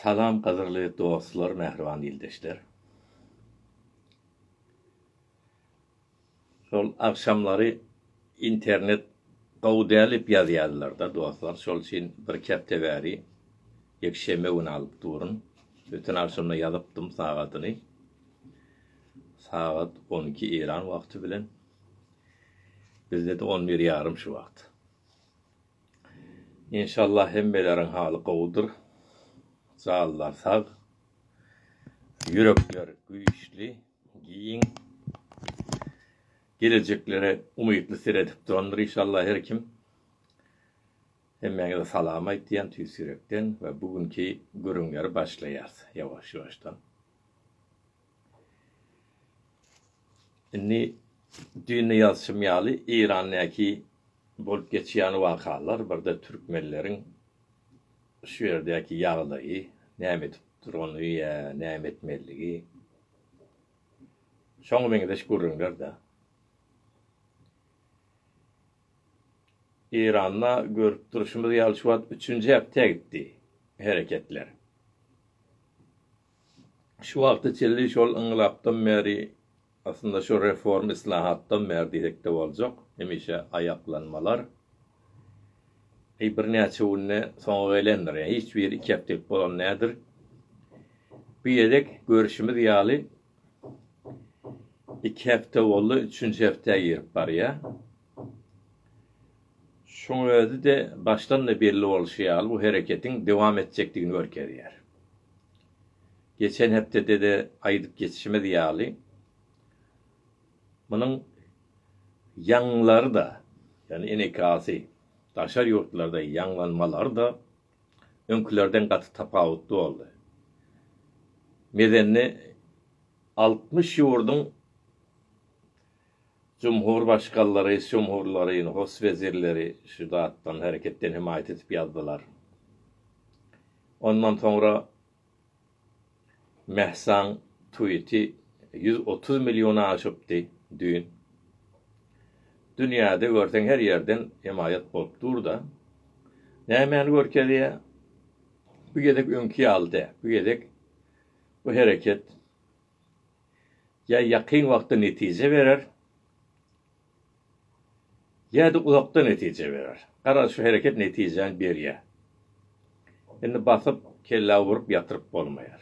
Salam gadyrly dostlar mähriban ildeşler. Şol agşamlary internet gowy däl dip ýazýarlarda dostlar şol üçin birki hepde bäri ýekşenbe güni alyp durun. Öten agşamda ýazypdym sagadyny. Sagat on iki Eýran wagty bilen. Bizde-de on bir ýarym şu wagt. Enşalla hemmeleriň haly gowudyr. Janlar sag. Ýürekler güýçli, giň. Gelejeklere umytly seredip durandyr işalla her kim. Hemmäňize salam aýtýan tüýs ýürekden we bu günki gürrüňleri başlaýas ýawaş-ýawaşdan. Indi düýnde ýazyşym ýaly Eýrandäki bolup geçýän wakalar birde türkmenleriň şu ýerdäki ýagdaýy näme edip durany ýa näme etmelidigi şoňa meňzeş gürrüňlerdä. Eýranda görüp durşumyz ýaly şu wagt üçünji hepdä gitdi hereketler. Şu wagta çenli şol yngylapdan bäri, aslynda şu reform yslahatdan bäri diýsek-de boljak, hemişe aýaklanmalar eý birnäçe günde soňa gelendir. Ýa hiç biri iki hepdelik bolan däldir. Bu gezek görşümiz ýaly iki hepde boldy, üçünji hepdä girip barýar. Şuň özi-de başdan-da belli bolşy ýaly bu hereketiň dowam etjekdigini görkezýär. Geçen hepdede-de aýdyp geçişimiz ýaly, munuň ýaňlary-da, ýagny enekasy daşary ýurtlarda ýaňlanmalary-da öňkülerden gaty tapawutly boldy. Mezenni altmyş ýurduň Jumhur başkallar, reisjumhurlaryny, hos wezirleri şu zatdan, hereketden hemaýat edip ýazdylar. Ondan soňra Mehsaň tweeti ýüz otuz million aşypdy düýn. Dünýäde görseň her ýerden hemaýat bolup dur-da. Nämäni görkezýär? Bu gezek öňki ýaly däl. Bu gezek bu hereket ýa ýakyn wagtda netije berer, ýa-da uzakda netije berer. Garaz, şu hereket netijäni berýär. Indi basyp, kellä urup ýatyryp bolmaýar.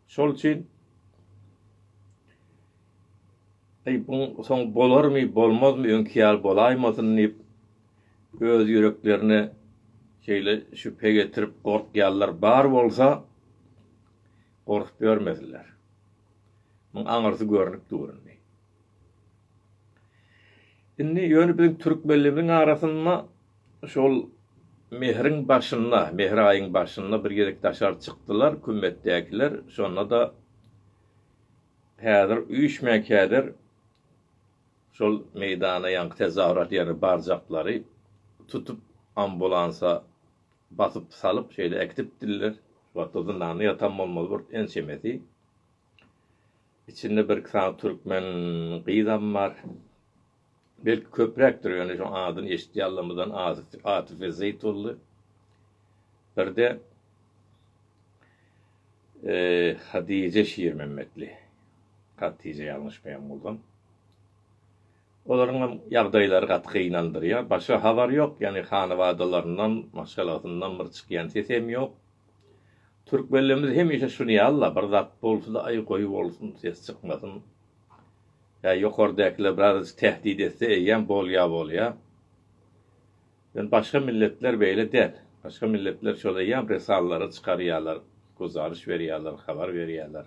Şol üçin Eý, buň soň bolarmy, bolmazmy, öňki ýaly bolaýmasyn diýip, öz ýüreklerine şeýle şübhe getirip gorkýarlar. Bar bolsa, gorkup ýörmediler. Muň aňyrsy görnüp dur indi. Indi ýöne biziň türkmenlerimiziň arasynda şol mehriň başynda, mehr aýyň başynda bir gezek daşary çykdylar kümmetdäkiler, şonda-da häzir üýşmänkädir şol meýdana ýaňky tezahürat ýerine barjaklary tutup ambulansa Basyp salyp şeýle äkidipdiler. Şu wagtda zyndanda ýatan bolmaly bir ençemesi. Içinde bir-iki sany türkmen gyzam bar. Belki köpräkdir ýöne şoň adyny eşitýänlerimizden Atyf Atyf Ezeýit boldy. Birde Hadije Şirmämmetli. Hatije ýalňyşmaýan bolsam. Olaryň hem ýagdaýlary gaty gynandyrýar. Başga habar ýok, ýagny hanabadalaryndan, maşgalasyndan bir çykýan ses hem ýok. Türkmenlerimiz hemişe şuny ýazlar, bir zat bolsa-da, aý, goý bolsun, ses çykmasyn. Ýa ýokardäkiler birazajyk tähdit etse eýýäm bolýa bolýa. Ýöne başga milletler beýle däl. Başga milletler şol eýýam risalary çykarýarlar, guzaryş berýärler, habar berýärler.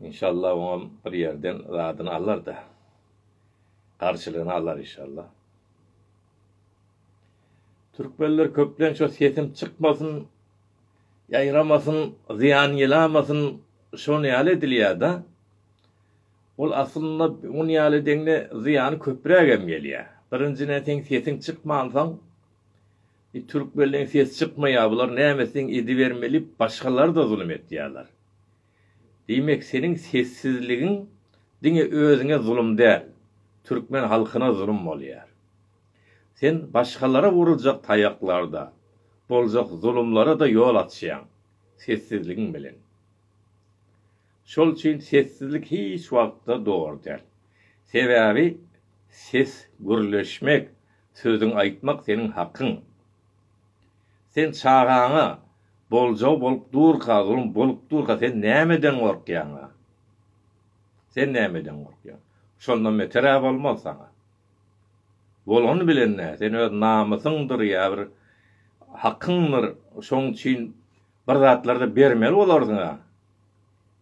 Inşallah oňam bir ýerden zadyny alarda. Garşylygyny alar inşallah. Türkmenler köplenç o sesim çykmasyn, ýaýramasyn, zyýan ýylamasyn, şon ýaly edilýär-de. Ol aslynda ony ýaly deňli zyýany köprägem gelýär. Birinjiden seň sesiň çykmansoň, E türkmenleň ses çykmaýa bular nämesin edibermeli başgalarda zulum etýaler. Diýmek seniň sessizligiň diňe özüňe zulum däl türkmen halkyna zulum bolýar. Sen başgalara vuruljak taýaklarda, boljak zulumlarada ýol açýaň sessizligiň bilen. Şol üçin sessizlik hiç wagtda dogry däl. Sebäbi ses gürleşmek, Sözüň aýtmak seniň hakyň. Sen çagaňa boljagy bolup durka zulum bolup durka sen nämeden gorkýaňa? Sen nämeden gorkýaň? Şondan beterä bolmaz saňa. Bolany bilen nä sen öz namysyňdyr ýa bir hakyňdyr şoň üçin bir zatlarda bermeli bolarsyňa.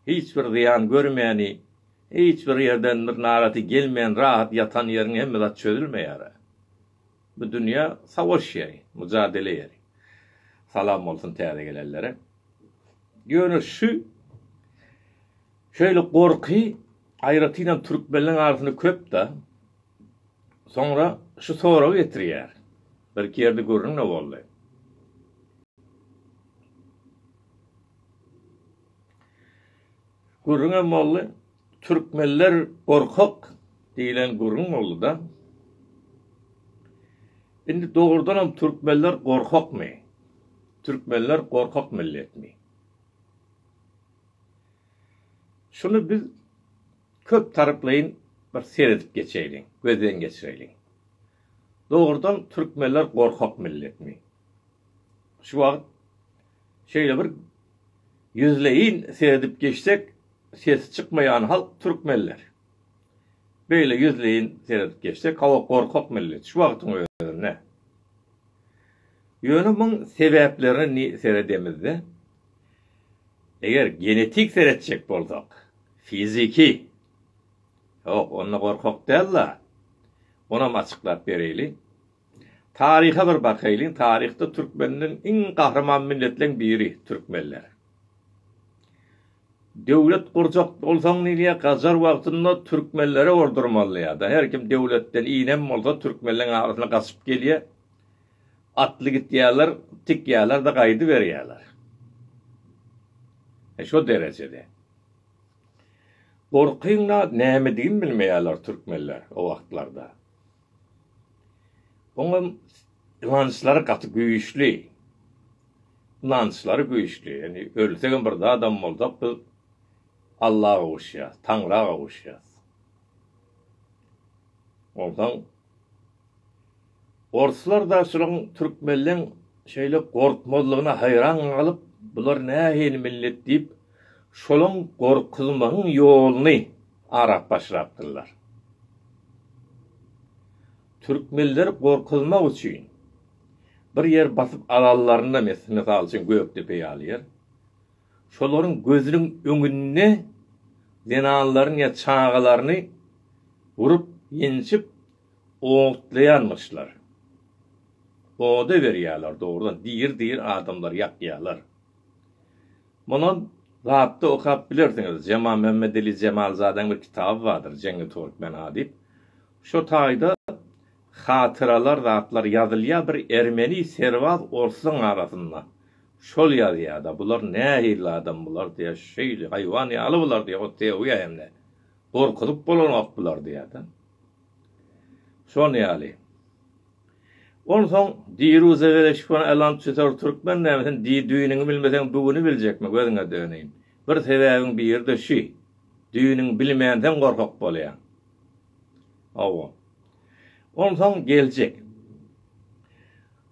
Hiç bir zyýan görmäni, hiç bir ýerden bir naraty gelmän rahat ýatan ýeriň hemme zat çözülmeýär-ä. Bu dünýä savaş ýeri, mujadele ýeri. Salam bolsun täze gelenlere. Ýöne şu şeýle gorky aýratynam türkmenleň arasynda köp-dä. Soňra şu soragy getirýär. Birki ýerde gürrüň-de boldy. Gürrüň hem boldy. Türkmenler gorkak diýlen gürrüň boldy-da. Indi dogrudan hem türkmenler gorkakmy? Türkmenler gorkak milletmi? Şuny biz köp taryplaýyn bir seredip geçeýliň, gözden geçireýliň. Dogrudan türkmenler gorkak milletmi? Şu wagt Şeýle bir ýüzleýin seredip geçsek, sesi çykmaýan halk türkmenler. Beýle ýüzleýin seredip geçsek, hawa gorkak millet, şu wagtyň özünde. Ýöne muň sebäplerini seredemizde, eger genetik seretjek bolsak, fiziki, ýok onda gorkak däl-la, onam açyklap bereýli. Taryha bir bakaýlyň, taryhda türkmenleň iň gahryman milletleň biri, türkmenler. Döwlet gurjak bolsaň nirýe gajar wagtynda türkmenlere urdurmaly ýada her kim döwletden inem bolsa türkmenleň arasyna gaçyp gelýä atly gitýäler tikýälerde gaýdyberýäler. He şo derejede. Gorkyň zat nämedigini bilmeýäler türkmenler o wagtlarda. Oňa ynançlary gaty güýçli. Ynançlary güýçli. Ýagny ölsek hem bir zadam bolsak biz Alla gowuşýas, Taňra gowuşýas. Onsoň orslar da şulaň türkmenleň şeýle gorkmazlygyna haýran galyp, bular nähili millet diýip, şolaň gorkuzmagyň ýoluny Arap başlapdyrlar. Türkmenleri gorkuzmak üçin bir ýer basyp alanlarynda mes, mysal üçin Gökdepe ýaly ýer, şolaryň gözüniň öňünde zenanlaryny ýa çagalaryny urup, ýenjip otlaýanmyşlar. Oda berýärler dogrudan, diri-diri adamlary ýakýarlar. Muny Zapda okap bilersiňiz. Jemal Mämmedeli Jemalzadäň bir kitaby bardyr, Jeňňi Türkmen A diýip. Şo taýda hatyralar zatlar ýazylýar bir ermeni serbaz orsuň arasynda. Şol ýazýar-da, bular nähili adam bular diýýär, şeýle haýwan ýaly bular diýýär, ot degýär hem-de. Gorkuzyp bolanok bular diýýär-de. Şol ýaly. Onsoň diri uzagere şpon alan çütor türkmen näme sen di düýnüňi bilmeseň bigüni biljekmi gözüňe döneýin. Bir sebäbiň biride şü. Düýnüňi bilmänseň gorkak bolýaň. Hawa. Onsoň geljek.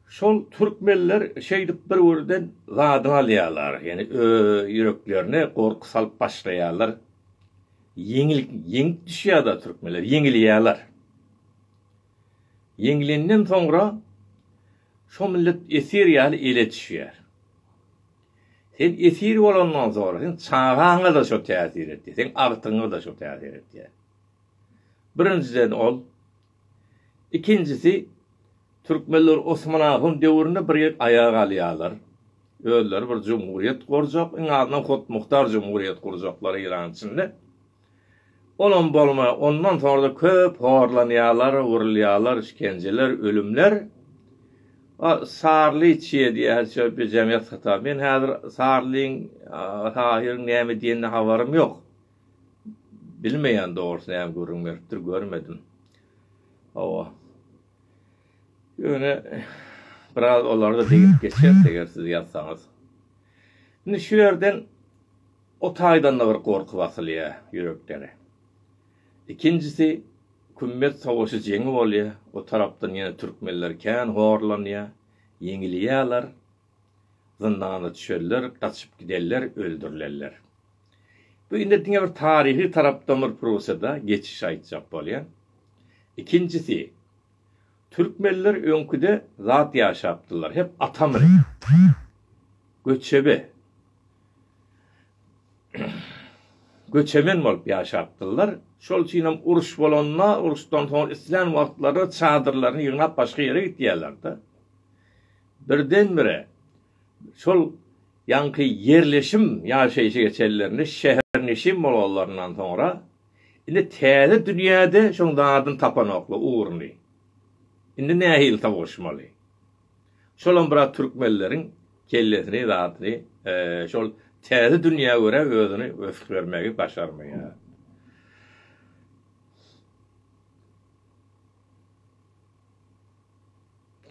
Şol türkmenler şeýdip bir birden zadyny alýarlar. Ýani ööö ýüreklerine gorky salyp başlaýarlar. Ýeňil ýeňip düşýärda türkmenler ýeňilýäler. Ýeňlenden soňra şo millet esir ýaly ele düşýär. Sen esir bolandan soňra sen çagaňa-da şo täsir etýär, seň agtygyňa-da şo täsir etýär. Birinjiden ol Ikinjisi, türkmenler Osman Ahun döwründe bir ýer aýak alýarlar. Özleri bir jumhuriýet gurjak, iň azyndan hutmuhtar jumhuriýet gurjaklar Eýran içinde. Olam bolmaý, ondan soňra-da köp horlanýarlar, urulýarlar, işkenjeler, ölümler. A, Sarly çyýe diýýär, şo bir jemgyýet satar. Men häzir Sarlyň, Tahyryň näme diýenine habarym ýok. Bilmeýän dogrusu näme gürrüň beripdir görmedim. Hawa. Ýöne biraz olarda degip geçeris eger siz ýazsaňyz. Indi şu ýerden o taýdan-da bir gorky basylýar ýüreklere. Ikinjisi Kümmet sowaşy jeňi bolýar, o tarapdan ýene türkmenler kän horlanýar, ýeňilýärler. zyndana düşerler, gaçyp giderler, öldürilerler. Bu indi diňe bir taryhy tarapdan bir Prussiýada geçiş aýtjak bolýan. Ikinjisi, türkmenler öňküde zat ýaşapdyrlar, hep ata münüp, göçebe, göçemen bolup ýaşapdyrlar. Şol üçin hem uruş bolanda, uruşdan soň islän wagtlary çadyrlaryny ýygnap başga ýere gitýärler-de. Birden-bire şol ýaňky ýerleşim ýaşaýşy geçenlerinde şäherneşin bolanlaryndan soňra indi täze dünýäde şoň zadyny tapanoklar, ugruny. Indi nähili sowuşmaly? Şolam biraz türkmenleriň kellesini, zadyny şol täze dünýä görä özüni ösübermegi başarmaýar.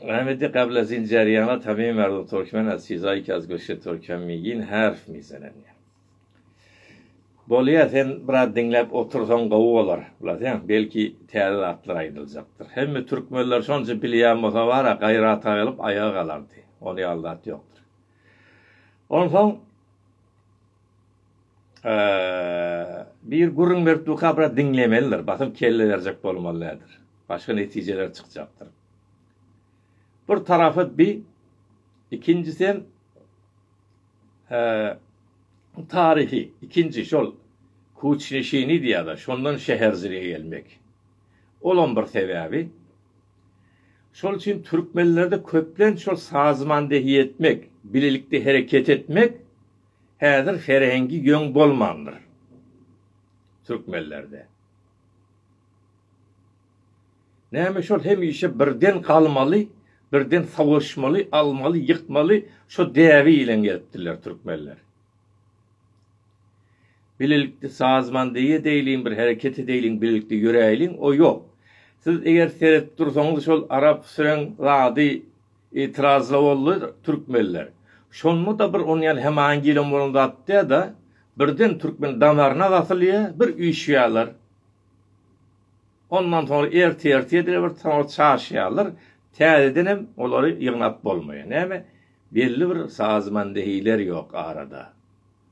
Rahmetli Kabla Zinjariýana Tamim Merdo Türkmen Azizaý Kaz Göşe Türkem Migin Harf Mizenenýa. Bolýa sen biraz diňläp otursaň gowy bolar. Bilaseň belki täze zatlar aýdyljakdyr. Hemme türkmenler şonça bilýän bolsa bara gaýrata gelip aýaga galardy. Ony ýaly zat ýokdur. Onsoň Bir gürrüň berip durka biraz diňlemelidir, basyp kelle berjek bolmaly däldir. Başga netijeler çykjakdyr. Bir tarapy bi, ikinjisi hem taryhy, ikinji şol kuçneşini diýýärler, şondan şäherjige gelmek. Olam bir sebäbi. Şol üçin türkmenlerde köplenç şol sazmandehi etmek, bilelikde hereket etmek Häzir serengi ýöň bolmandyr türkmenlerde. Näme şol hemişe birden galmaly, birden savaşmaly, almaly, ýykmaly şo däbi bilen gelipdirler türkmenler. Bilelikde sazmandeýe edeýliň bir hereket edeýliň bilelikde ýöräýliň o ýok. Siz eger seredip dursaňyz şol arap süren zady Itirazlawly türkmenler. Şonda-da bir ony ýaly hemaýyn gelen bolan zat dä-da, birden türkmeniň damaryna gasylýar, bir üýşýärler. Ondan soňra ertir-ertir edil bir soňra çaşýarlar, täzeden hem olary ýygnap bolmaýar. Näme, belli bir sazmandehiler ýok arada,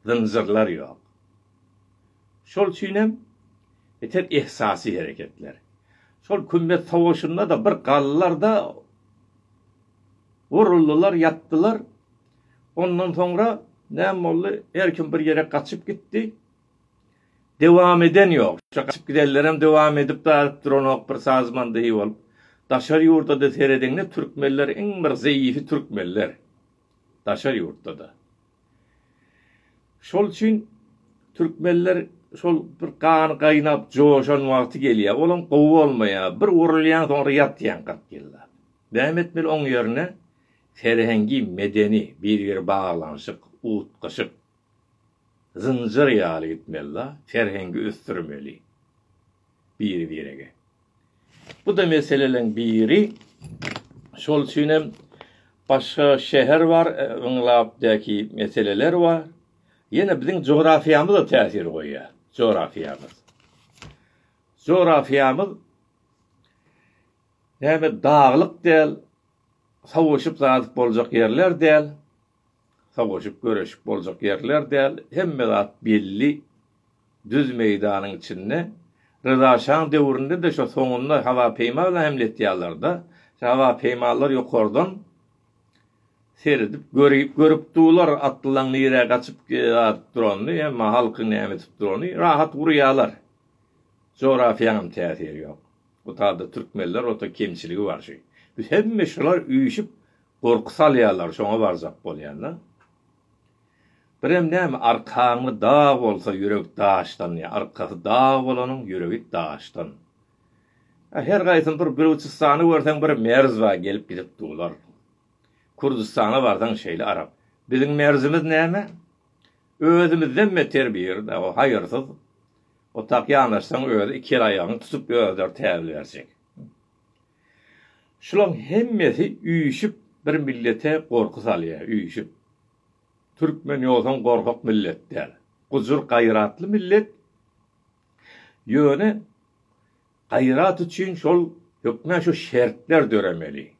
zynjyrlar ýok. Şol üçinem etek ehsasy hereketler. Şol kümmet sowaşynda-da bir galdylar-da, uruldylar, ýatdylar. Ondan soňra näme boldy? Her kim bir ýere gaçyp gitdi. Dewam eden ýok. Şo gaçyp gidenlerem dewam edip baryp duranok bir sazman deý bolup. Daşary ýurda-da serediňde türkmenler iň bir zeýifi türkmenler. Daşary ýurtda-da. Şol üçin türkmenler şol bir gany gaýnap joşan wagty gelýär. Olam gowy bolmaýar. Bir urulýaň soňra ýatýaň kyrk ýyllap. Näme etmeli oň ýerine serhengi medeni bir biri baglanyşyk utgaşyk zynjyr ýaly gitmeli da serhengi ösdürmeli biri birege. Bu-da meseleleň biri. Şol üçin hem başga şäher bar, ynglapdaky meseleler bar. Ýene biziň jografiýamyz-a täsir goýýar. Jografiýamyz. Jografiýamyz näme daglyk däl, sowuşyp-zadyp boljak ýerler däl. Sowaşyp göreşip boljak ýerler däl, hemme zat belli düz meýdanyň içinde. Ryza şaň döwründe-de şo soňunda howa peýma bilen hemletýärler-de. Şo howa peýmalar ýokardan seredip görüp dular atlylaň nirä gaçyp adyp duranyny, emma halkyň näme edip duranyny rahat urýarlar. Jografýaňam täsiri ýok. Bu taýda türkmenler ota kemçiligi bar şi. Biz hemme şular üýşüp Gorky salýarlar şoňa barjak bolýanda. Birem näme arkaňy dag bolsa ýürek daşdan ýa arkasy dag bolanyň ýüregi daşdan. A her gaýsyny bir Bilujistany görseň bir merz bar gelip gidip dular. Kurdistana barsaň şeýle arap. Biziň merzimiz näme? Özümizden beter bir ýerde o haýyrsyz otak ýanaşsaň özi iki el aýagyňy tutup özleri täbil berjek. Şulaň hemmesi üýşüp bir millete gorky salýa üýşüp. Türkmen ýosan gorkak millet däl. Gujur gaýratly millet. Ýöne gaýrat üçin şol hökman şu şertler döremeli.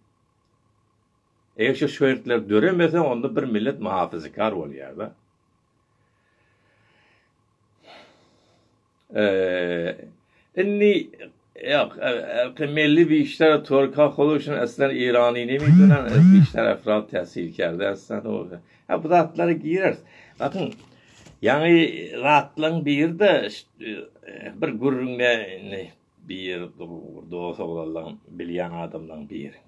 Eger şu şertler döremese onda bir millet muhafazakar bolýada. Indi Ýok, Melli Bişler Türka Holuçin Eslen Irani Nemi Dönen Bişler Efrat Täsil Kerde Eslen Oda. Ha bu zatlara gireris. Bakyn Ýaňy zatlaň biri de bir gürrüňde indi bir dos oglanlaň bilýän adamlaň biri.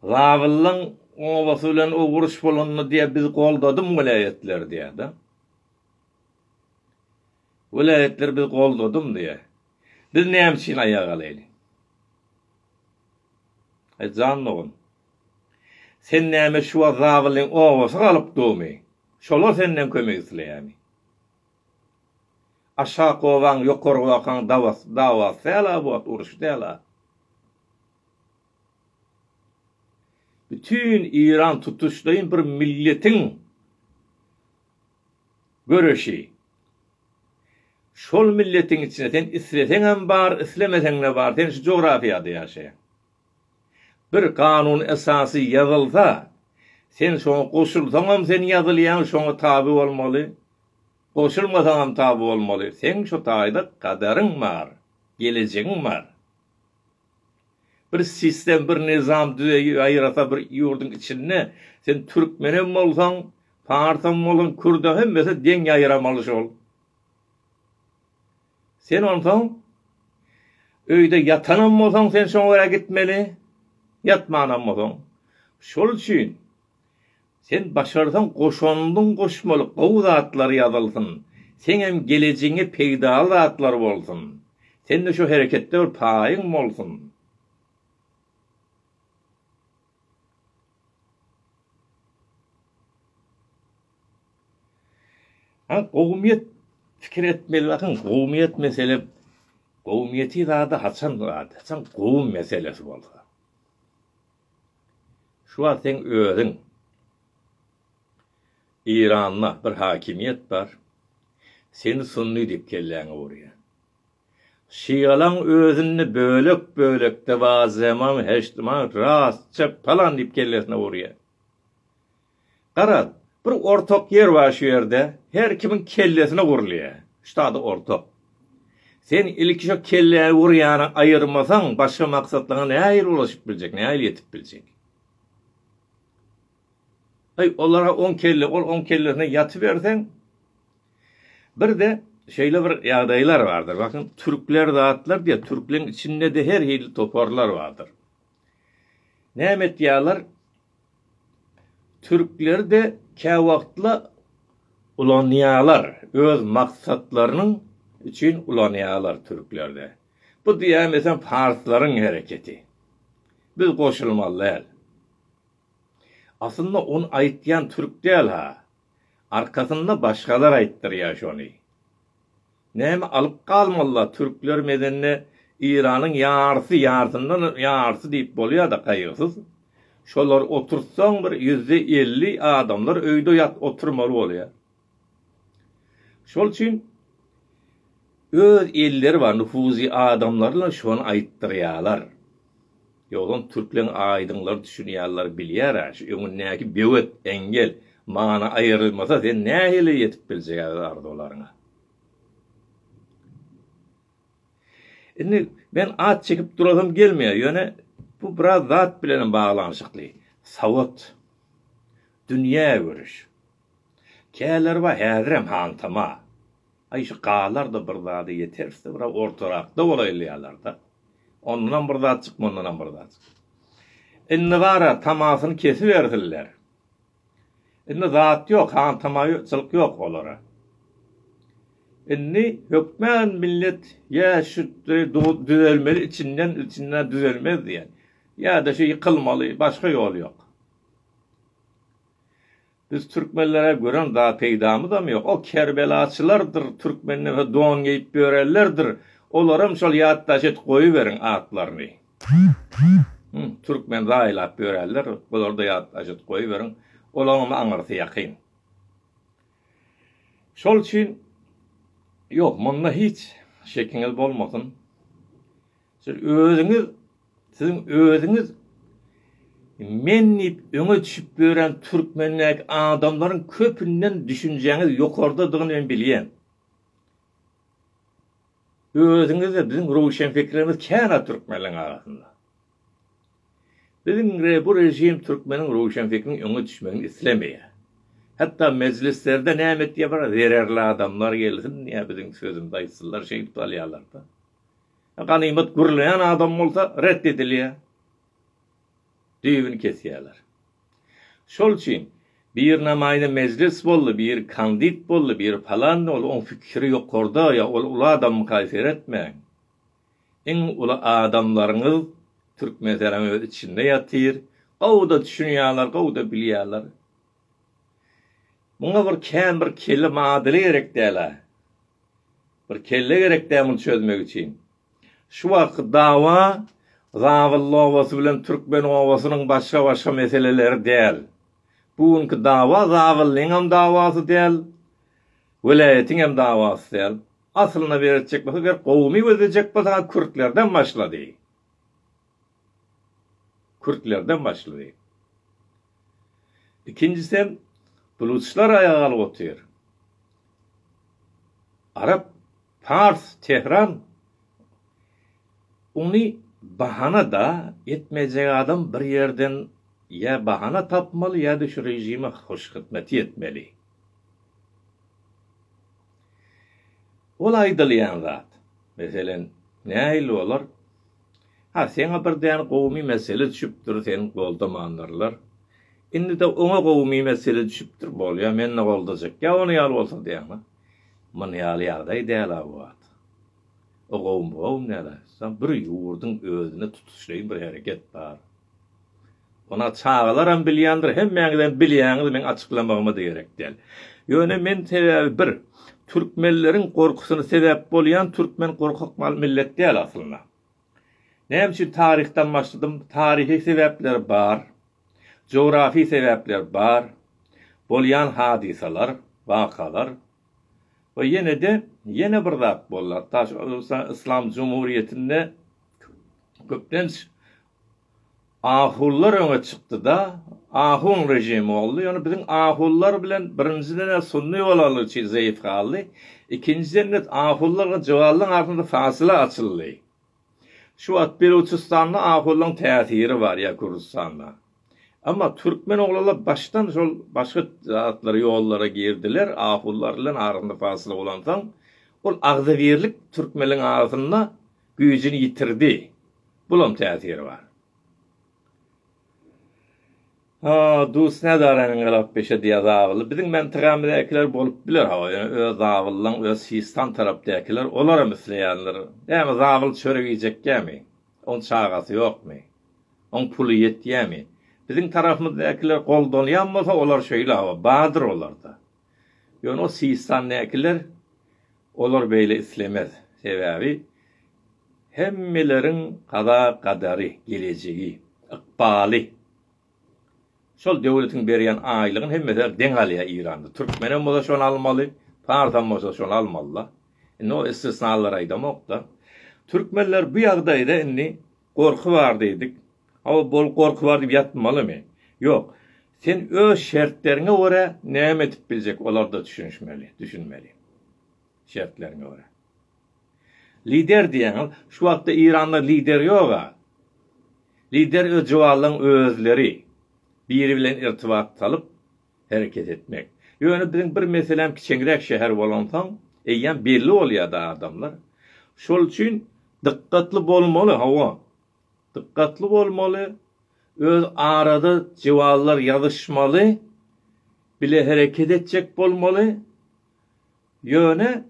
Zabyllaň obasy bilen owruş bolanda diýýär biz goldadym welaýatlar diýýär de. Welaýatlar biz goldadymy diýýär. Biz näme üçin aýaga galaýly? Aý jan dogan. Sen näme şu wagt zabylyň obasy galyp durmy? Şolar senden kömek isleýärmi? Aşak obaň ýokary wakaň dawasy dawasy dälä bu wagt uruşy dälä. Bütin Iran tutuşlaýyn bir milletiň Göreşi. Şol milletiň içine sen isleseňem bar, islemeseňde bar, sen şu jografiýada ýaşaýaň. Bir kanun esasy ýazylsa, sen şoňa goşulsaňam sen ýazylýaň, şoňa taby bolmaly, goşulmasaňam taby bolmaly, seň şu taýda gaderyň bar, gelejegiň bar. Bir sistem bir nizam düzeýi aýyrasa bir ýurduň içinde sen türkmenem bolsaň parsam bolsaň kürde hemmesi deň ýaýyramaly şol. Sen onsoň öýde ýatanam bolsaň sen şoňa görä gitmeli ýatmanam bolsaň. Şol üçin Sen başarsaň goşandyň goşmaly gowy zatlar ýazylsyn, seňem gelejigiňe peýdaly zatlar bolsun. Sende şu hereketde bir paýyň bolsun. Haň gowumyýet pikir etmeli bakyň gowumyýet mesele gowumyýeti zada haçan zat haçan gowum meselesi bolsa. Şu wagt seň özüň Eýranda bir hakimiýet bar, seni sunny diýip kelläňe urýar. Şialaň özünde bölek bölekde bar zeman heştman rastça palan diýip kellesine urýar. Garaz, bir ortak ýer bar şu ýerde, her kimiň kellesine gurulýar. Şuda-da ortak. Sen ilki şo kelläni gurýany aýyrmasaň, başga maksatlaryňa nähili ulaşyp biljek, nähili ýetip biljek? Aý, olara oň kelle, ol oň kellesine ýatyberseň, Bir-de, şeýle bir ýagdaýlar bardyr, bakyn, türkler zatlar diýýär, türkleriň içinde-de her hili toparlar bardyr. Näme etýärler? Türkleri-de käwagtla ulanýarlar, öz maksatlarynyň üçin ulanýarlar türkleri-de. Bu diýýän mesem parslaryň hereketi. Biz goşulmaly däl. Aslynda ony aýtýan türk däl-ha. Arkasynda başgalar aýtdyrýar şony. Näme alyp galmalylar türkler medende Iranyň ýarysy ýarysyndan ýarysy diýip bolýada gaýgysyz şolary oturtsaň bir ýüzde elli adamlar öýde ýat oturmaly bolýa şol üçin öz elleri bar nufuzy adamlaryna şony aýtdyrýalar ýogsam türkleň aýdynlar düşünýalar bilýärä şu öňündäki böwet engel mana aýrylmasa sen nähili ýetip biljegä öz arzuwlaryňa. Indi men at çekip durasym gelmeýär, ýöne bu biraz zat bilenem baglanyşykly. Sowat, dünýägörüş. Kälerba häzirem hantama. Aý şu galar-da bir zada ýeteris-de, biraz ortarakda bolaýlaýarlar-da. Ondanam bir zat çykmandanam bir zat çykýar. Indi bar-a tamasyny kesibersinler. Indi zat ýok, hantamaýçylyk ýok olara. Indi hökman millet ýa şu düzelmeli içinden, içinden düzelmez diýen, ýa-da şu ýykylmaly, başga ýol ýok. Biz türkmenlere gören zat peýdamyzam ýok. O kerbelaçylardyr, türkmenden don geýip ýörenlerdir, olaram şol ýatdaş edip goýuberiň atlaryny. Hum türkmen zaýlap ýörärler bularda ýat ajet goýberiň olaňam aňyrsy ýakyn. Şol üçin ýok munda hiç şekiňiz bolmasyn siz özüňiz siziň özüňiz men diýip öňe düşüp ýören türkmendäki adamlaryň köpünden düşünjäňiz ýokardadygyny men bilýän. Özüňizde biziň röwşenpikirimiz känä türkmenleň arasynda. Biziň bu režim türkmeniň röwşenpikriniň öňe düşmegini islemeýär. Hatda mejlislerde näme etýär bir zererli adamlar gelsin diýýär biziň sözümzi aýtsynlar şeýdip salýarlarda. Ganymat gürleýän adam bolsa ret edilýär. düýbüni kesýärler. Şol üçin, bir namaýda mejlis boldy, bir kandit boldy, bir palan boldy, oň pikiri ýokarda, ýa ol uly adamymyka seretmäň. Iň uly adamlaryňyz Türkmenisanyň öz içinde ýatyr, gowy-da düşünýärler, gowy-da bilýärler. Muňa bir kän bir kelle madyly gerek däl-ä. Bir kelle gerek däl muny çözmek üçin. Şu wagtky dawa Zabylly obasy bilen Türkmen obasynyň başga-başga meseleleri däl. Bu günki dawa Zabyllyň hem dawasy däl, welaýatyň hem dawasy däl. Aslynda beretjek bolsa, eger gowumy gözlejek bolsaňyz, kürtlerden başlady. Kürtlerden başlady. Ikinjisi hem bluçlar aýaga galyp otyr. Arap Pars Tehran uny bahana da etmejek adam bir ýerden ýa bahana tapmaly ýa-da şu režime hoşhyzmeti etmeli. Ol aýdylýan zat. Meselen, nähili bolar? Ha, seňe bir däne gowumy mesele düşüpdir, seni goldamanlarlar. Indi-de oňa gowumy mesele düşüpdir, bolýar, meni-de goldajak. Ýa ony ýaly bolsa diýýäňmi? Muny ýaly ýagdaý däl abat. O gowum-gowum näle? Şa bir ýurduň özüne tutuşlaýyn bir hereket bar. Ony çagalaram bilýändir, hemmäňizem bilýäňiz, meň açyklamagym-da gerek däl. Ýöne men sebäbi bir, türkmenleriň gorkusyna sebäp bolýan türkmen gorkak mal millet däl aslynda. Näme üçin taryhdan başladym? Taryhy sebäpleri bar. Jografy sebäpler bar, bolýan hadysalar, wakalar we ýene-de ýene bir zat boldy. Hatda şu Özbegistan Yslam Jumhuriýetinde köplenç ahulylar öňe çykdy-da, ahun režimi boldy. Ýöne biziň ahulylar bilen birinjiden-ä sunny bolalyk üçin zeýf galdy, ikinjiden-de ahulylar bilen jowalylaryň arasynda fasyla açyldy. Şu wagt Beluçystanda ahulyň täsiri bar ýa Gürjüstanda. Emma türkmen oglanlar başdan şol başga zatlara ýollara girdiler, ahulylar bilen arasynda fasyla bolansoň ol agzybirlik türkmenligiň arasynda güýjini ýitirdi. Bulam täsiri bar. Ha, dus näzaranyň galap beşe diýýär zabyly. Biziň mentegamyzäkiler bolup biler hawa, ýöne öz zabyllaň öz sistan tarapdäkiler olaram isleýändir. Näme zabyl çörek iýjekgämi? Oň çagasy ýokmy? Oň puly ýetýämi? Biziň tarapymyzdakiler goldanýam bolsa olar şeýle hawa, bardyr olarda. Ýöne o sistandäkiler olar beýle islemez. Sebäbi hemmeleriň gaza gadary, gelejegi, ykbaly. Şol döwletiň berýän aýlygyny hemmesi deň alýar Iranda. Türkmenem bolsa şony almaly, parsam bolsa şony almaly-da. Indi o istisnalary aýdamok-da. Türkmenler bu ýagdaýda indi Gorky bar diýdik. Hawa, bol gorky bar diýip ýatmalymy? Ýok. Sen öz şertleriňe görä näme edip biljek olarda düşünişmeli, düşünmeli. Şertleriňe görä. Lider diýýäňiz, şu wagtda Iranda lider ýog-a. Lider öz juwallaň özleri. Biri bilen irtibat salyp, hereket etmek. Ýöne biziň bir meseläm kiçeňräk şäher bolansoň, eýýäm belli bolýar-da adamlar. Şol üçin dykgatly bolmaly, hawa. Dykgatly bolmaly, öz arada jywazlar ýazyşmaly, bile hereket etjek bolmaly. Ýöne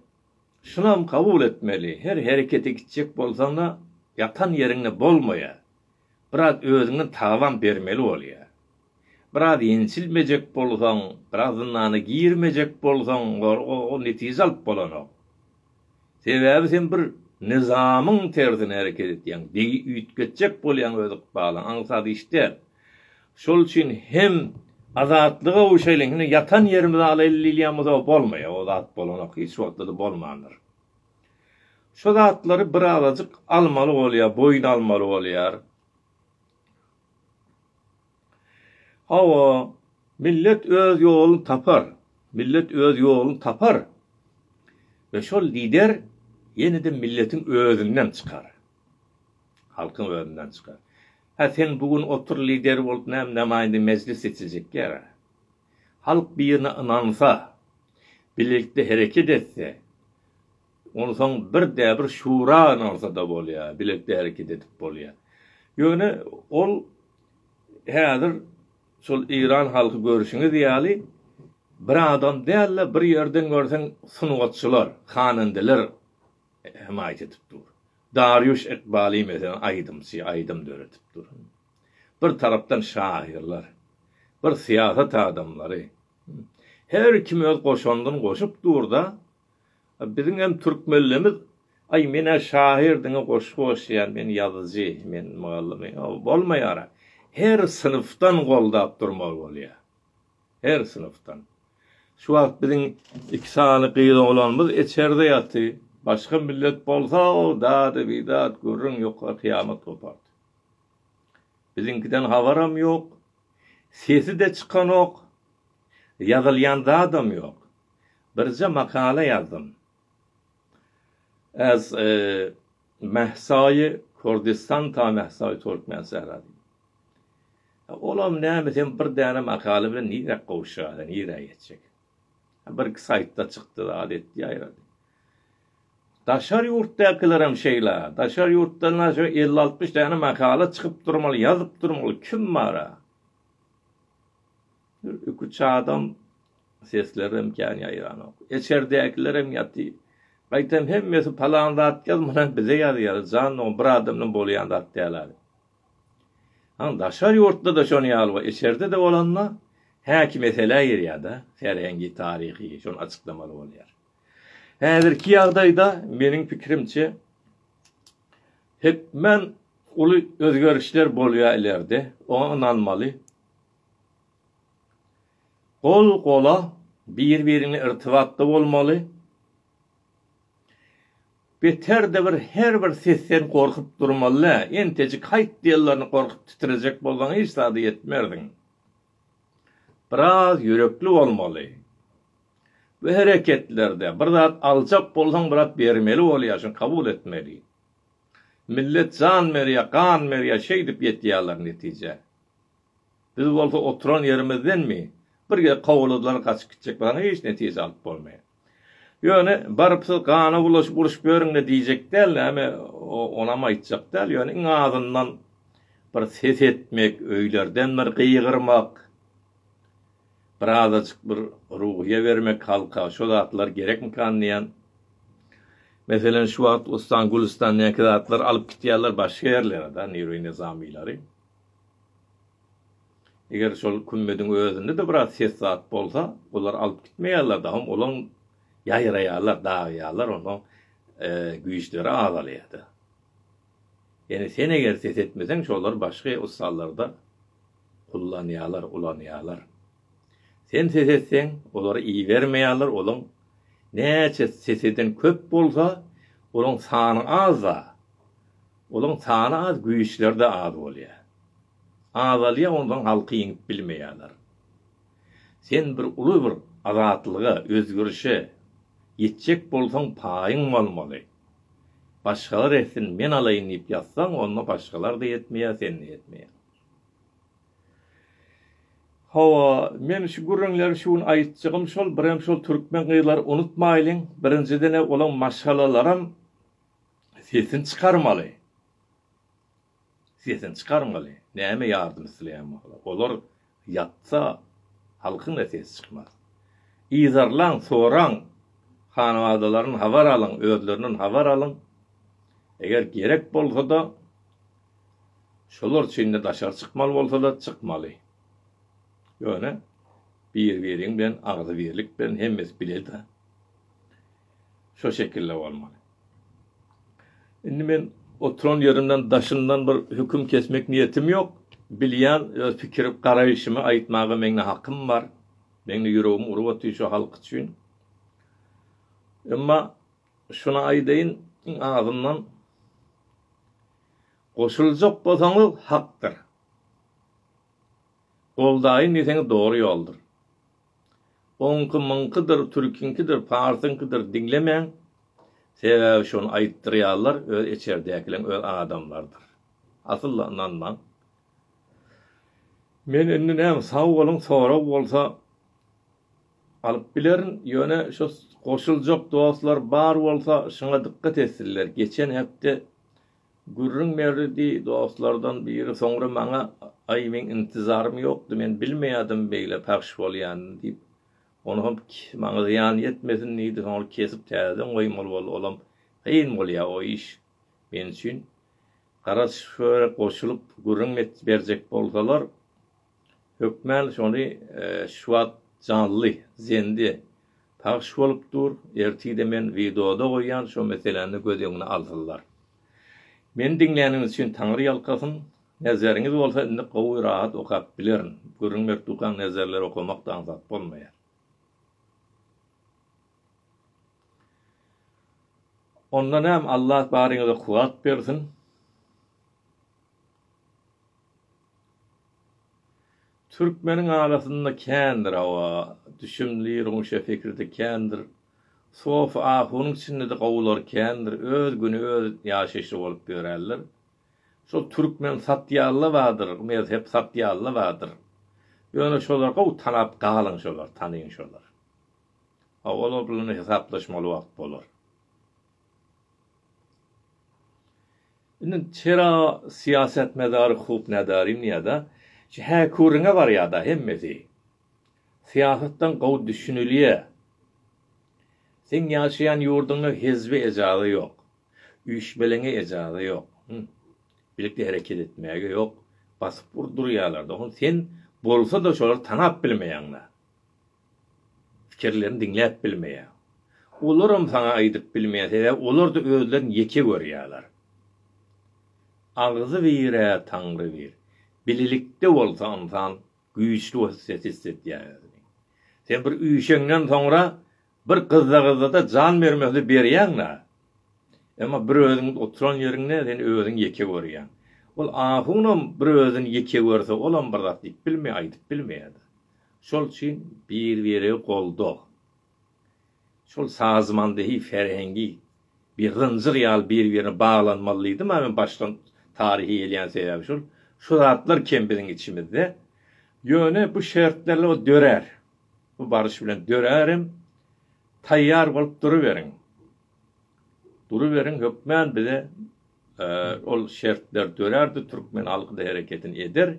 şunam kabul etmeli, her herekete gitjek bolsaň-da, ýatan ýeriňde bolmaýar. biraz özüňden tagalam bermeli bolýa. Biraz ýençilmejek bolsaň, biraz zyndana girmejek bolsaň, ol netije alyp bolanok. Sebäbi sen bir nyzamyň tersine hereket etýäň, begi üýtgetjek bolýaň öz ykbalyňy, aňsat iş däl. Şol üçin hem azatlyga gowşaýlyň, ýatan ýerimizi alaýyn diýilýän bolsa bolmaýar, o zat bolanok, hiç wagtda-da bolmandyr. Şu zatlary birazajyk almaly bolýar, boýun almaly bolýar. Hawa, millet öz ýoluny tapar. Millet öz ýoluny tapar we şol lider ýene-de milletiň özünden çykar. Halkyň özünden çykar. Hä, sen bu gün otur lider bolup näme namaýanda mejlis seçiljek ýa? Halk birine ynansa, bilelikde hereket etse, onsoň birde-bir şura ynansa-da bolýar, bilelikde hereket edip bolýar. Ýöne ol häzir şol eýran halky görşüňiz ýaly bir adam däl-de, bir ýerden görseň sungatçylar, hanandeler hemaýat edip dur. Darýuş Ekbali meselem aýdymçy, aýdym döredip dur. Bir tarapdan şahyrlar, bir syýasat adamlary, her kim öz goşandyny goşup dur-da, biziň hem türkmenlimiz, Aý, men-ä şahyr diňe goşgy goşýan, men ýazyjy, men mugallym, bolmaýar-a. Her synpdan goldap durmaly bolýar. Her synpdan. Şu wagt biziň iki sany gyz oglanymyz içerde ýaty, başga millet bolsa-ow, dady-bidat, gürrüň ýok, gyýamat gopardy. Biziňkiden habaram ýok, sesi-de çykanok, ýazylýan zadam ýok. Birje makala ýazdym. Ez Mehsaýy Kurdistan ta Mehsaýy Türkmen Sehra diýip. Olam näme sen bir däne makala bilen nirä gowuşýaýa, nirä ýetjek. Birki saýtda çykdy zat etdi ýaýrady. Daşary ýurtdakylaram şeýla. Daşary ýurtdan aşa elli-altmyş däne makala çykyp durmaly, ýazyp durmaly. Kim bar-a? Bir iki-üç adam seslerem kän ýaýranok. Eçerdäkilerem ýaty. Gaýtam hemmesi palan zat ýaz, muny bize ýazýar. Jan dogan, bir adamdan bolýan zat däl-ä. Aň, daşary ýurtda-da şonuň ýaly bar. Eçerde-de bolanda, häki meselä girýär-de. Serhengi, taryhy, şony açyklamaly bolýar. Häzirki ýagdaýda meniň pikirimçe hökmän uly özgerişler bolýar ilerde, oňa ynanmaly. Gol gola bir-birine irtibatda bolmaly. Beterde bir her bir sesden gorkup durmaly dä, entejik haýt diýenlerini gorkup titrejek bolsaň hiç zada ýetmersiň. Biraz ýürekli bolmaly. Bu hereketlerde bir zat aljak bolsaň bir zat bermeli bolýar şuny kabul etmeli. Millet jan berýär, gan berýär şeýdip ýetýärler netijä. Biz bolsa oturan ýerimizdenmi bir gezek kowaladylar gaçyp gitjek bolsaň hiç netije alyp bolmaýar. Ýöne baryp siz gana bulaşyp uruş böriňle diýjek däl näme onam aýtjak däl ýöne iň azyndan bir ses etmek öýlerden bir gygyrmak, Bir azajyk bir ruhyýe bermek halka, şo zatlar gerekmikan diýýän. Meselem, şu wagt Wystan, Gülüstan näki zatlar alyp gitýärler başga ýerlere-de Nirwi Nizamylary. Eger şol kümmediň özünde-de biraz ses zat bolsa, olar alyp gitmeýärler dagam, olam ýaýraýarlar, dagýarlar, onda güýçleri azalýar-da. Ýöne sen eger ses etmeseň şolar başga ussallarda kullanýalar ulanýalar. Sen ses etseň olar ibermeýaler olaň näçe ses eden köp bolsa olaň sany azda olaň sany az güýçlerde az bolýa. Azalýa onsoň halky ýeňip bilmeýaler. Sen bir uly bir azatlyga özgerişe ýetjek bolsaň paýyň bolmaly. Başgalar etsin, men alaýyn diýip ýatsaň, onda başgalar-da etmeýär, sen-de etmeýäň. Hawa, men şu gürrüňleri şu gün aýtjagym şol, birem şol türkmen gyzlary unutmaýlyň, birinjiden-ä olaň maşgalalaram sesini çykarmaly. Sesini çykarmaly, näme ýardym isleýän bolsa. Olar ýatsa, halkyň-da sesi çykmaz. Yzarlaň, soraň, hanabadalaryn habar alyň, özlerinden habar alyň. Eger gerek bolsa-da, şolar üçin-de daşary çykmaly bolsa-da, çykmaly. Ýöne bir-biriň bilen agzybirlik bilen hemmesi bile-de. şo şekilde bolmaly. Indi men oturan ýerimden daşyndan bir höküm kesmek niýetim ýok. Bilýän öz pikir garaýşymy aýtmaga meňde hakym bar. Meňde ýüregim urup otyr şo halk üçin. Emma şuny aýdaýyn, iň azyndan goşuljak bolsaňyz hakdyr. Goldaýyn diýseňiz dogry ýoldur. Oňky myňkydyr türkiňkidir parsyňkydyr diňlemäň sebäbi şony aýtdyrýarlar öz eçerdäkileň öz adamlardyr asylda ynanmaň men indi näme sag boluň sorag bolsa alyp bilerin ýöne şo goşuljak dostlar bar bolsa şuňa dykgat etsinler geçen hepde Gürrüň berdi, diý, dostlardan biri soňra maňa, Aý, meň intizarym ýokdy, men bilmeýärdim beýle pahş bolýanyny, diýip, ony hem maňa zyýan ýetmesin diýdi, soňra kesip täzeden goýmaly boldy, olam kyn bolýar o iş men üçin. Gara şöhra goşulyp gürrüň berjek bolsalar. Hökmän şony şu wagt janly, zende, pagş bolup dur, ertir-de men wideoda goýýan şo meseläni göz öňüne alsynlar. Meni diňläniňiz üçin Taňry ýalkasyn, nezeriňiz bolsa indi gowy rahat okap bilerin, gürrüň berip durkaň nezerleri okamak da aňsat bolmaýar. Onda näm Allah baryňyza kuwwat bersin. Türkmeniň arasynda kändir, hawa, düşümli ruňşe fikirde kändir, sofi ahunyň içinde-de gowulary kändir, öz güni öz ýaşaýşy bolup ýörärler. Şol türkmen satiýalla bardyr, mezhep satiýalla bardyr. Ýöne şolar gowy tanap galyň şolar, tanyň şolar. Hawa, olar bilen-de hesaplaşmaly wagt bolar. Indi çera syýasatmedary huk nedarin ýada şu häküriňe barýada hemmesi. Syýasatdan gowy düşünilýä. Seň ýaşaýan ýurduňda hezbe ejaza ýok. Üýşmeleňe ejaza ýok. Birlikde hereket etmäge ýok. Basyp urdurýalar. Dogan sen bolsa da şolary tanap bilmeýaňda. pikirlerini diňläp bilmeýäň. Olaram saňa aýdyp bilmeýär, sebäbi olarda özlerini ýeke görýärler. Agzy bir-ä Taňry bir. Bilelikde bolsa ynsan güýçli hiss edýär özüni. Sen bir üýşeňden soňra bir gyzda-gyzda-da jan bermekli berýäň-la. Emma bir özüň oturan ýeriňde sen özüňi ýeke görýäň. Ol ahunam bir özüni ýeke görse olam bir zat diýip bilmeýär, aýdyp bilmeýär-de. Şol üçin bir-biri goldag. Şol sazmandehi ferhengi bir zynjyr ýaly bir-birine baglanmaly diýdim, a men başdan taryhy elýän sebäbi şul. Şu zatlar kem biziň içimizde. Ýöne bu şertlerle o dörär. Bu baryş bilen dörärem. Taýýar bolup duruberiň. Duruberiň hökmän bize. Ol şertler dörärde türkmen halky-da hereketini eder.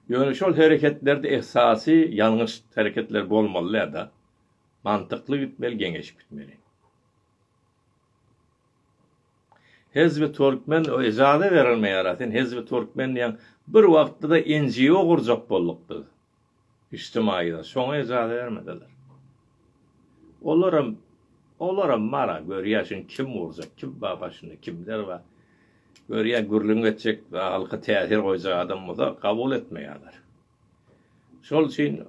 Ýöne şol hereketlerde esasy ýalňyş hereketler bolmaly däl-de. Mantykly gitmeli, geňeşip gitmeli. Hezbi Türkmen ejaza berelmeýär-ä. Sen Hezbi Türkmen diýýäň. Bir wagtda-da NGO gurjak bolduk biz. Ijtimaýda şoňa ejaza bermediler. Olaram, olaram bar-a, görýä şuny kim urjak, kim bar başynda, kimler bar. Görýä gürrüň etjek, halka täsir goýjak adam bolsa kabul etmeýärler. Şol üçin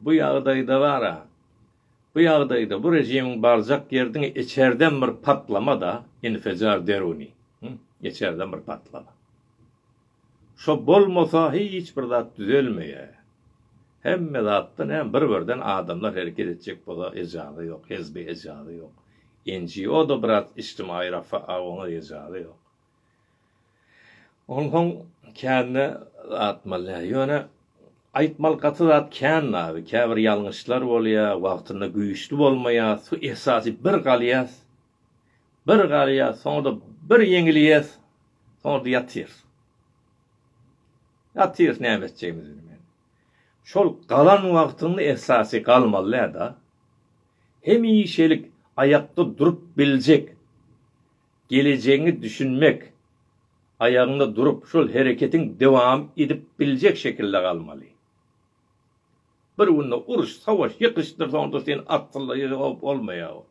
bu ýagdaýda bar-a, bu ýagdaýda bu režimiň barjak ýeri diňe içerden bir patlama-da, infijar deruni, içerden bir patlama. Şo bolmasa hiç bir zat düzelmeýä. Hemme zatda näme bir birden adamlar hereket etjek bolsa ejaza ýok, hezbe ejaza ýok. NGO da biraz içtimaýy rafa a oňa da ejaza ýok. Onsoň kände atmalýa. Ýöne aýtmaly gaty zat kän nabi. Käbir ýalňyşlar bolýa, wagtynda güýçli bolmaýas. Su esasy bir galýas. Bir galýas, soňra-da bir ýeňilýäs, soňra-da ýatyrys. Ýatyrys, näme etjegimizi bilmän. Şol galan wagtyňda esasy galmaly-da. Hemişelik aýakda durup biljek, gelejegiňe düşünmek, aýagyňda durup, şol hereketiň dowam edip biljek şekilde galmaly. Bir günde uruş, sawaş, ýykyşdyr, soňra-da sen atsyzlygy, o, bolmaýar.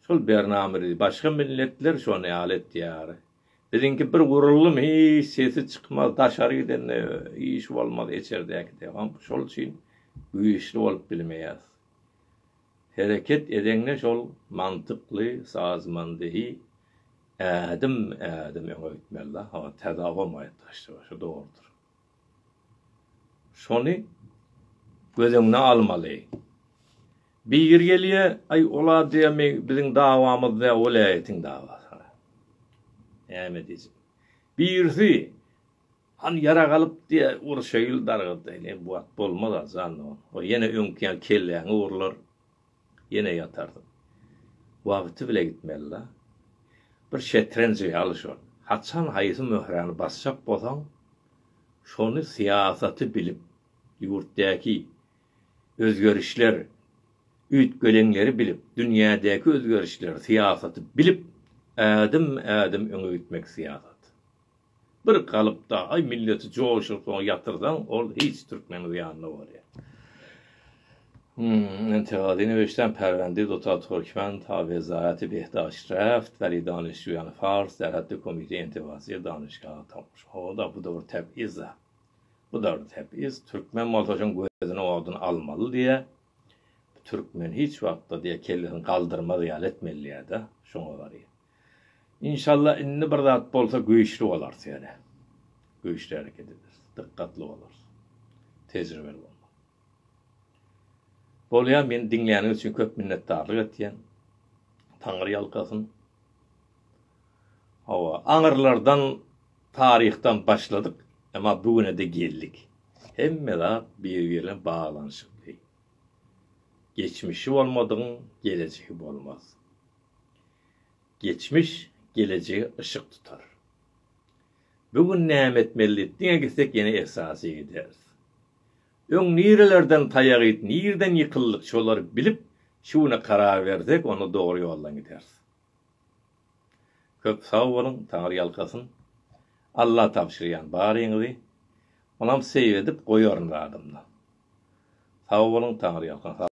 Şol bernamedy başga milletler şony ýaly etýär. Biziňki bir guruldym hiç sesi çykmaz daşary gidende iş bolmaz eçerdäkide şol üçin güýçli bolup bilmeýäs. Hereket edeňde şol mantykly sazmandyhy ädim ädim öňe gitmeli da. Täze obam gaýyp daşda şu dogrudyr. Şony göz öňüne almaly. Biri gelýä, Aý, ol adamy biziň dawamyz däl, welaýatyň dawasy. Näme diýjek? Birisi, Hany ýarag alyp diýä, urşaýyl dargadaýyn. Eý, bu wagt bolmaz-a, jan, o ýene öňki ýaly kelläňi urlar. Ýene ýatarsyň. Wagty bile gitmelida. Bir şetrenji ýaly şol. Haçan haýsy möhräni basjak bolsaň, şony syýasaty bilip, ýurtdäki özgerişler, üýtgeleňleri bilip, dünýädäki özgerişleri, syýasaty bilip, ädim-ädim öňe gitmek syýasat. Bir galypda aý milleti joşuryp soňa ýatyrsaň ol hiç türkmeniň zyýanyna bolýar. Hum entegadi neweştän Perwendi duta Turkmen ta wezayati behdaşt reft weli danişjuyani fars serhetde komite entegasiýa danişgaha tapyş oda bu da bir tep iza bu da bir tep iz türkmen bolsa şoň gözüni odun almaly diýä türkmen hiç wagtda diýä kellesini galdyrmaz ýaly etmeli diýä da şoňa barýar. Inşallah indi bir zat bolsa güýçli bolarys ýöne güýçli hereket ederis, dykgatly bolarys, tejribeli bolmaly. Bolýar meni diňläniňiz üçin köp minnetdarlyk etýän. Taňry ýalkasyn. Hawa, aňyrlardan taryhdan başladyk, emma bu güne-de geldik. Hemme zat bir-biri bilen baglanyşykly. Geçmişi bolmadygyň gelejegi bolmaz. Geçmiş gelejege yşyk tutar. Bu gün näme etmeli diňe gitsek ýene ersasy gideris. Öň nirelerden taýak iýip nirden ýykyldyk şolary bilip şu güne karar bersek onda dogry ýoldan gideris. Köp sag boluň Taňry ýalkasyn. Alla tabşyrýan baryňyzy. Onam seýredip goýaryn zadymda. Sag boluň Taňry ýalkasyn.